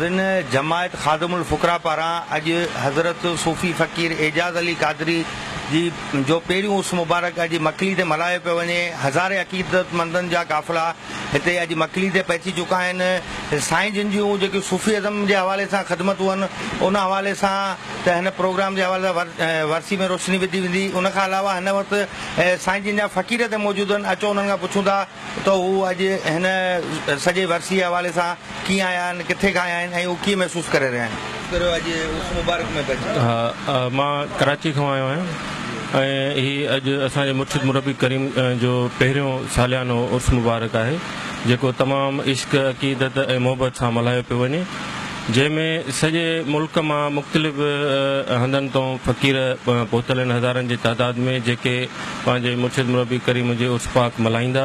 زين جماعت خادم الفقراء پاران اڄ حضرت صوفي فقير اعجاز علي قادري جي جو پهريون عرس مبارڪ اڄ مڪلي تي ملهايو پيو وڃي هزارين عقيدتمندن جا قافلا هتي اڄ مڪلي تي پهچي چڪا آهن. سائين جن جون جيڪيون صوفي ازم جي حوالي سان خدمتون هن ان حوالي سان ته هن پروگرام جي حوالي سان ورسي ۾ روشني وڌي ويندي. ان کان علاوه هن وقت سائين جن جا فقير هتي موجود آهن اچو انهن کان پڇون ٿا ته هو اڄ هن سڄي ورسي جي حوالي سان ڪيئن آيا آهن، ڪٿي کان آيا آهن ۽ هو ڪيئن محسوس ڪري رهيا آهن. ڪريو اڄ اس مبارڪ ۾ به اچي. ها مان ڪراچي کان آيو آهيان ۽ هي اڄ اسان جي مرشد مربي ڪريم جو پهريون ساليانو عرس مبارڪ آهي جيڪو تمام عشق عقيدت ۽ محبت سان ملهايو پيو وڃي جنهن ۾ سڄي ملڪ مان مختلف هنڌن تون فقير پهتل آهن هزارن جي تعداد ۾ جيڪي پنهنجي مرشد مربي ڪريم جي عرس پاڪ ملهائيندا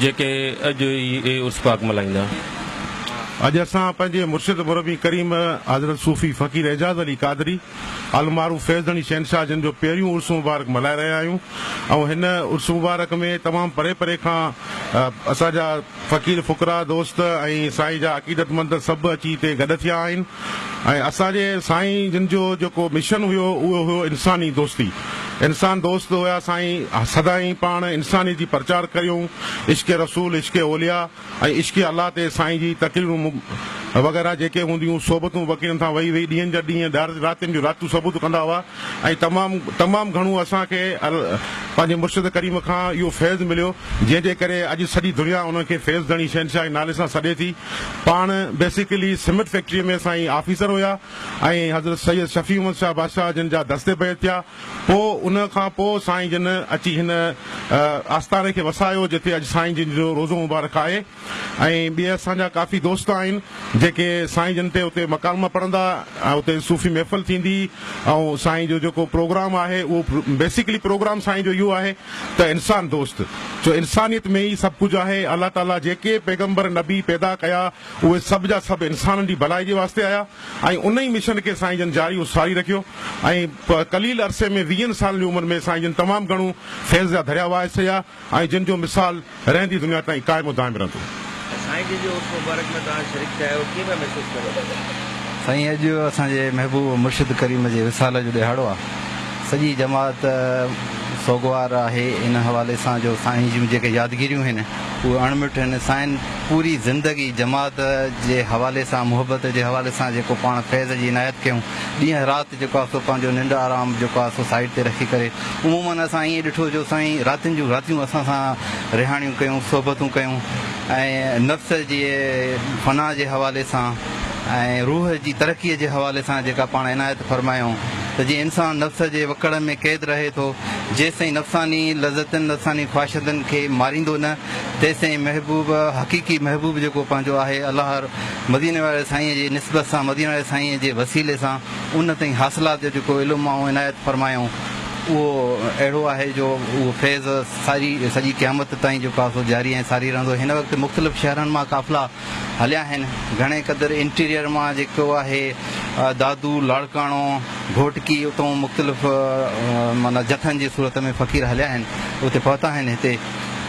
جيڪي اڄ ئي عرس پاڪ ملهائيندا. اڄ اسان پنهنجي مرشد مربي ڪريم حضرت صوفي فقير اعجاز علي قادري المعروف فيض ڌڻي شهنشاهه جن جو پهريون عرس مبارڪ ملهائي رهيا آهيون ۽ هن عرس مبارڪ ۾ تمام پري پري کان اسان جا فقير فقراء دوست ۽ سائين جا عقيدتمند سڀ اچي هتي گڏ ٿيا آهن. ۽ اسان جي سائين جن جو جيڪو مشن هيو اهو هيو انساني دوستي انسان دوست هيا سائين سدائين پاڻ انساني جي پرچار ڪريون عشق رسول عشق اولياء ۽ عشق الله تي سائين جي تقريرون وغيره جيڪي هونديون صحبتون وڪيڙن تان وئي وئي ڏينهن جا ڏينهن راتين جون راتون صحبتون ڪندا هئا ۽ تمام تمام گهڻو اسان کي پنهنجي مرشد ڪريم کان اهو فيض مليو جنهن جي ڪري اڄ سڄي دنيا انهن کي فيض ڌڻي شهنشاهه جي نالي سان سڏي ٿي پاڻ بيسيڪلي سمنٽ فيڪٽري ۾ سائين آفيسر هيا ۽ حضرت سيد شفيع احمد شاهه بادشاهه جن جا دست بيعت ٿيا پوء ان کان پوء سائين جن اچي هن آستاني کي وسايو جتي اڄ سائين جن جو روضو مبارڪ آهي. ۽ ٻيا اسان جا ڪافي دوست آهن جيڪي سائين جن تي اتي مڪالما پڙهندا ۽ اتي صوفي محفل ٿيندي ۽ سائين جو جيڪو پروگرام آهي اهو بيسڪلي پروگرام سائين جو اهو آهي ته انسان دوست ڇو انسانيت ۾ ئي سڀ ڪجهه آهي الله تعالي جيڪي پيغمبر نبي پيدا ڪيا اهي سڀ جا سڀ انسانن جي ڀلائي جي واسطي آيا ۽ ان ئي مشن کي سائين جن جاري ساري رکيو ۽ قليل عرصي ۾ ويهن سالن جي عمر ۾ سائين جن تمام گهڻو فيض جا دريا وهائي ڇڏيا. ۽ جن جو مثال رهندي دنيا تائين قائم و دائم رهندو. ۽ سائين جن جي عرس مبارڪ ۾ توهان شريڪ ٿيا آهيو ڪيئن پيا محسوس ڪريو؟ سائين اڄ اسان جي محبوب و مرشد ڪريم جي وصال جو ڏهاڙو آهي سڄي جماعت سوگوار آهي ان حوالي سان جو سائين جون جيڪي يادگيريون هين اهي اڻ مٽ هين سائين پوري زندگي جماعت جي حوالي سان محبت جي حوالي سان جيڪو پاڻ فيض جي عنايت ڪيون ڏينهن رات جيڪو آهي سو پنهنجو ننڊ آرام جيڪو آهي سو سائيڊ تي رکي ڪري عموماً اسان ائين ڏٺو جو سائين راتين جون راتيون اسان سان رهاڻيون ڪيون صحبتون ڪيون ۽ نفس جي فنا جي حوالي سان ۽ روح جي ترقي جي حوالي سان جيڪا پاڻ عنايت فرمايائون ته جيئن انسان نفس جي وڪڙ ۾ قيد رهي ٿو جيستائين نفساني لذتن نفساني خواهشتن کي ماريندو نه تيستائين محبوب حقيقي محبوب جيڪو پنهنجو آهي الله مديني واري سائينء جي نسبت سان مديني واري سائينء جي وسيلي سان ان تائين حاصلات جو جيڪو علم آئون عنايت فرمايائون اهو اهڙو آهي جو اهو فيض ساري سڄي قيامت تائين جيڪو آهي سو جاري ۽ ساري رهندو هن وقت مختلف شهرن مان قافلا هليا آهن گهڻي قدر انٽيريئر مان جيڪو آهي دادو لاڙڪاڻو گهوٽڪي اتون مختلف معنيٰ جٿن جي صورت ۾ فقير هليا آهن اتي پهتا آهن هتي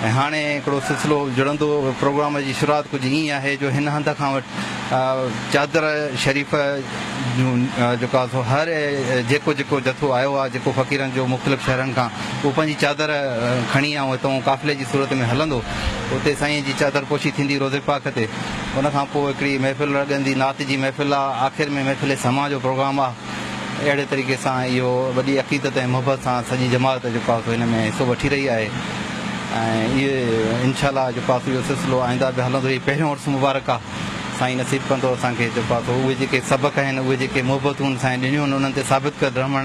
۽ هاڻي هڪڙو سلسلو جڙندو. پروگرام جي شروعات ڪجهه ائين آهي جو هن هنڌ کان وٺ چادر شريف جون جيڪا سو هر جيڪو جيڪو جٿو آيو آهي جيڪو فقيرن جو مختلف شهرن کان اهو پنهنجي چادر کڻي ائون هتئون قافلي جي صورت ۾ هلندو اتي سائين جي چادر پوشي ٿيندي روضي پاڪ تي ان کان پوء هڪڙي محفل لڳندي نعت جي محفل آهي آخر ۾ محفل سماع جو پروگرام آهي. اهڙي طريقي سان اهو وڏي عقيدت ۽ محبت سان سڄي جماعت جيڪو آهي سو هن ۾ حصو وٺي رهي آهي ۽ اهي انشاء الله جيڪو آهي سو اهو سلسلو آئنده به هلندو هي پهريون عرس مبارڪ آهي سائين نصيب ڪندو اسان کي جيڪو آهي سو اهي جيڪي سبق آهن اهي جيڪي محبتون سائين ڏنيون آهن انهن تي ثابت ڪر رهمڻ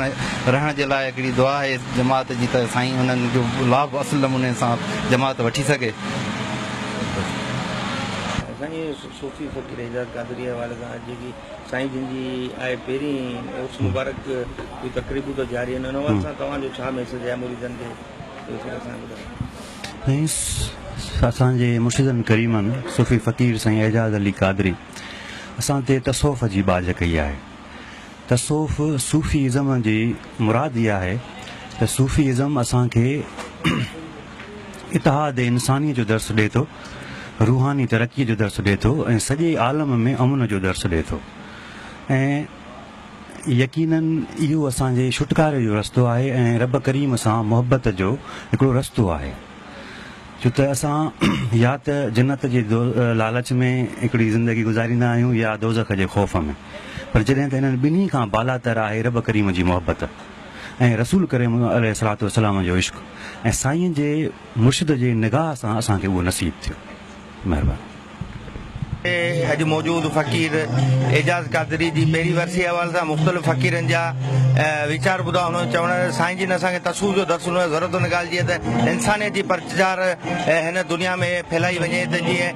رهڻ جي لاء هڪڙي دعا آهي جماعت جي ته سائين انهن جو لاڀ اصل نموني سان جماعت وٺي سگهي. سائين صوفي فقير اعجاز قادري حوالي سان اڄ جيڪي سائين جن جي آء پهرين عرس مبارڪ جون تقريبون ته جاري آهن ان حوالي سان توهان جو ڇا ميسيج آهي مريدن کي اهو سڀ اسان کي ٻڌايو. سائين اسان جي مرشدن ڪريمن صوفي فقير سائين اعجاز علي قادري اسان تي تصوف جي ٻاجهه ڪئي آهي تصوف صوفي ازم جي مراد اها آهي ته صوفي ازم اسان کي اتحاد انساني جو درس ڏي ٿو روحاني ترقيء جو درس ڏئي ٿو ۽ سڄي عالم ۾ امن جو درس ڏئي ٿو ۽ يقينن اهو اسان جي ڇوٽڪاري جو رستو آهي ۽ رب ڪريم سان محبت جو هڪڙو رستو آهي ڇو ته اسان يا ته جنت جي لالچ ۾ هڪڙي زندگي گذاريندا آهيون يا دوزخ جي خوف ۾ پر جڏهن ته انهن ٻنهي کان بالاتر آهي رب ڪريم جي محبت ۽ رسول ڪريم عليه الصلوة والسلام جو عشق ۽ سائين جي مرشد جي نگاهه سان اسان کي اهو نصيب ٿيو. مهرباني. اڄ موجود فقير اعجاز قادري جي پهرين ورسي حوالي سان مختلف فقيرن جا ويچار ٻڌا انهن جو چوڻ آهي ته سائين جي نه اسان کي تصوف جو درس ڏنو آهي ضرورت ان ڳالهه جي آهي ته انسانيت جي پرچار هن دنيا ۾ ڦهلائي وڃي ته جيئن